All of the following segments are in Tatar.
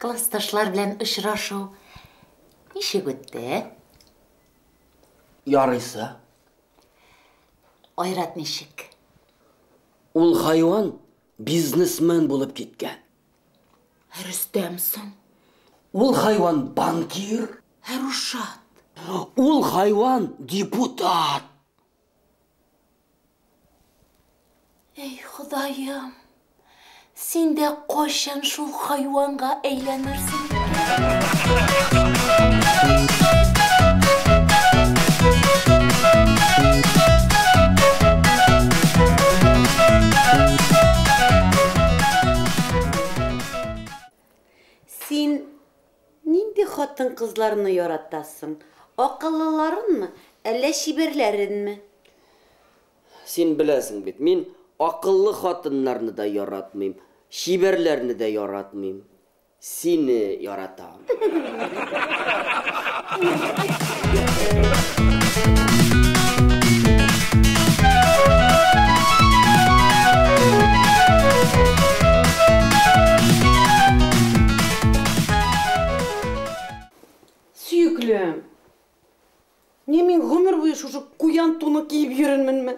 Классташлар белән очрашу ничек үтте? Ярыйсы. Айрат ничек? Ул хайван бизнесмен булып киткән. Ә Рөстәм соң? Ул хайван банкир. Ә Рушат? Ул хайван депутат. Әй, Ходаем, син дә кайчан шул хайванга әйләнерсең? Син нинди хатын-кызларны яратасың? Акыллыларынмы, әллә чибәрләренме? Син беләсең бит, мин акыллы хатыннарны да яратмыйм, чибәрләрне дә яратмыйм. Сине яратам. Сөеклем. Не мин гомер буе шушы куян туны киеп йөренменме?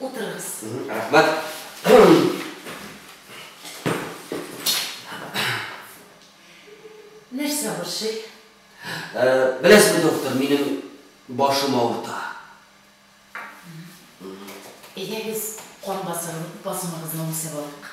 Утырыгыз. Рәхмәт. Нәрсә борчый? Ә, беләсезме, доктор, минем башым авырта. Әйдәгез, кан басымын, басымыгызны үлчәп алыйк.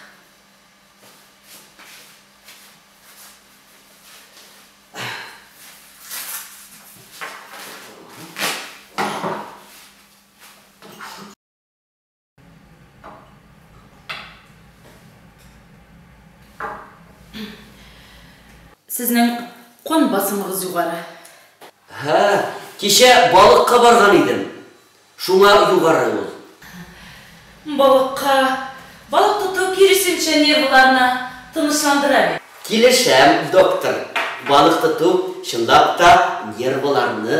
Сезнең кан басымыгыз югары. Һа, кичә балыкка барган идем. Шуңа югары ул. Балыкка балык тоту киресенчә нервларны тынычландыра бит. Килешәм, доктор. Балык тоту чынлап та нервларны